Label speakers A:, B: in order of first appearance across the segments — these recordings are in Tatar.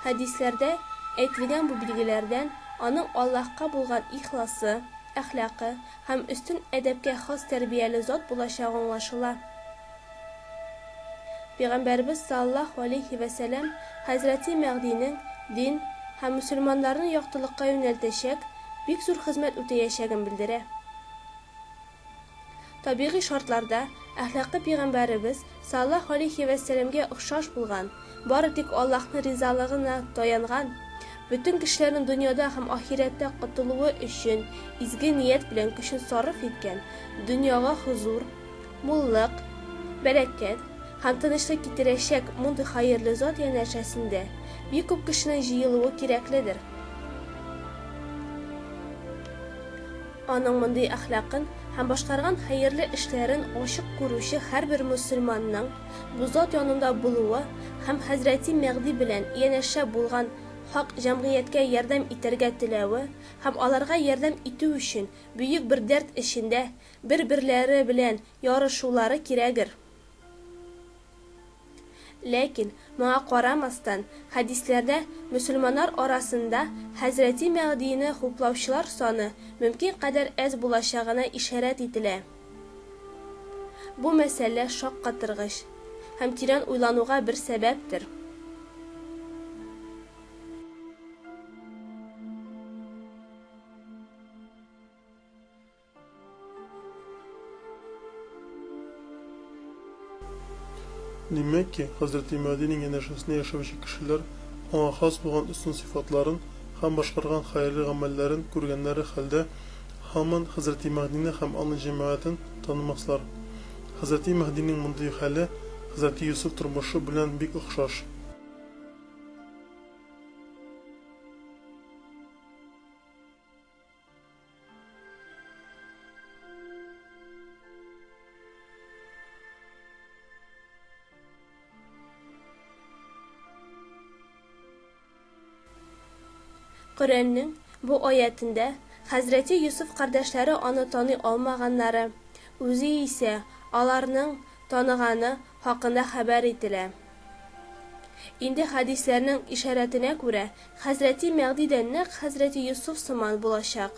A: Хәдисләрдә әйтелгән бу билгеләрдән аның Аллаһка булган ихласы, әхлакы һәм өстен әдәпкә хас тәрбияле зат булачагы аңлашыла. Пәйгамбәребез саллаллаһу галәйһи вә сәлам хәзрәти Мәгъдинең дин һәм мөселманнарны яктылыкка юнәлтәчәк бик зур хезмәт үтәячәген белдерә. Табигый шартларда әхлакы пәйгамбәребез саллаллаһу галәйһи вә сәламгә охшаш булган, бары тик Аллаһның ризалыгына таянган, бөтен кешеләрнең дөньяда һәм ахирәттә котылуы өчен изге ният белән көчен сарыф иткән, дөньяга хозур, Муллык, бәрәкәт һәм тынычлык китерәчәк мондый хәерле зат янәшәсендә бик күп кешенең җыелуы кирәкледер. Аның мондый әхлакын һәм башкарган хәерле эшләрен ачык күрүче һәрбер мөселманның бу зат янында булуы һәм хәзрәти Мәгъди белән янәшә булган хак җәмгыятькә ярдәм итәргә теләве һәм аларга ярдәм итү өчен бөек бер дәрт эчендә бер-берләре белән ярышулары кирәгер. Ләкин, моңа карамастан, хәдисләрдә мөселманнар арасында хәзрәти Мәгъдине хуплаучылар саны мөмкин кадәр әз булачагына ишарәт ителә. Бу мәсьәлә шаккатыргыч һәм тирән уйлануга бер сәбәптер. Димәк ки, хәзрәти Мәһдинең янәшәсендә яшәүче кешеләр аңа хас булган өстен сыйфатларын һәм башкарган хәерле гамәлләрен күргәннәре хәлдә һаман хәзрәти Мәһдине һәм аның җәмәгатен танымаслар. Хәзрәти Мәһдинең мондый хәле хәзрәти Йосыф тормышы белән бик охшаш. Коръәннең бу аятендә хәзрәти Йосыф кардәшләре аны таный алмаганнары, үзе исә аларның таныганы хакында хәбәр ителә. Инде хәдисләрнең ишарәтенә күрә, хәзрәти Мәгъди дә нәкъ хәзрәти Йосыф сыман булачак.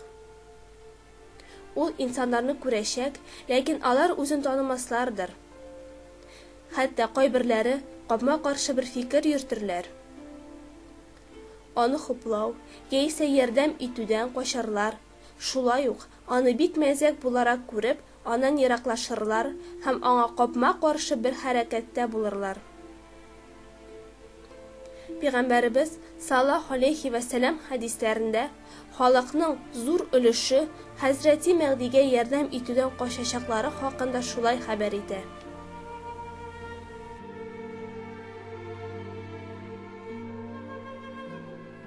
A: Ул инсаннарны күрәчәк, ләкин алар үзен танымаслардыр. Хәтта кайберләре капма-каршы бер фикер йөртерләр. Аны хуплау, яисә ярдәм итүдән качарлар. Шулай ук, аны бик мәзәк буларак күреп, аннан ераклашырлар һәм аңа капма-каршы бер хәрәкәттә булырлар. Пигамбәребез, саллаһу галәйһи вә сәлам, хәдисләрендә, халыкның зур өлеше хәзрәти Мәгъдигә ярдәм итүдән качачаклары хакында шулай хәбәр итә.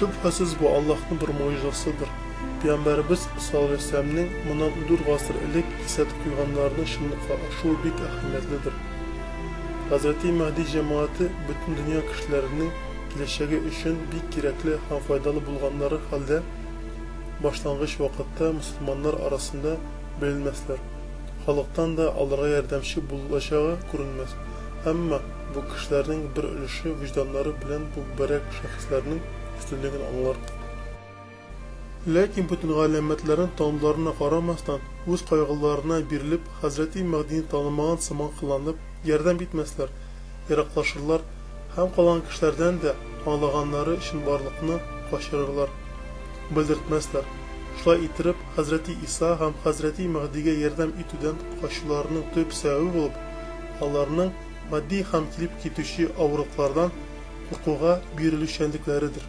A: Шөбһәсез бу Аллаһның бер муҗизасыдыр. Пәйгамбәребез салләһү моннан 4 гасыр элек кисәт куйганнарының чынлыкка ашуы бик әһәмиятледер. Хәзрәти Мәһди җәмәгате бөтен дөнья кешеләренең киләчәге өчен бик кирәкле һәм файдалы булганнары хәлдә, башлангыч вакытта мөселманнар арасында беленмәсләр, халыктан да аларга ярдәмче булылачагы күренмәс, әмма бу кешеләрнең бер өлеше вөҗданнары белән бу мөбарәк шәхесләрнең өстенлеген аңлар. Ләкин бөтен галәмәтләрен таныуларына карамастан, үз кайгыларына бирелеп, хәзрәти Мәһдине танымаган сыман кыланып, ярдәм итмәсләр, ераклашырлар һәм калган кешеләрдән дә аңлаганнары өчен барлыкны качырырлар, белдертмәсләр. Шулай иттереп, хәзрәти Иса һәм хәзрәти Мәһдигә ярдәм итүдән качуларының төп сәбәбе булып, аларның матди һәм килеп китүче авырлыклардан куркуга бирелүчәнлекләредер.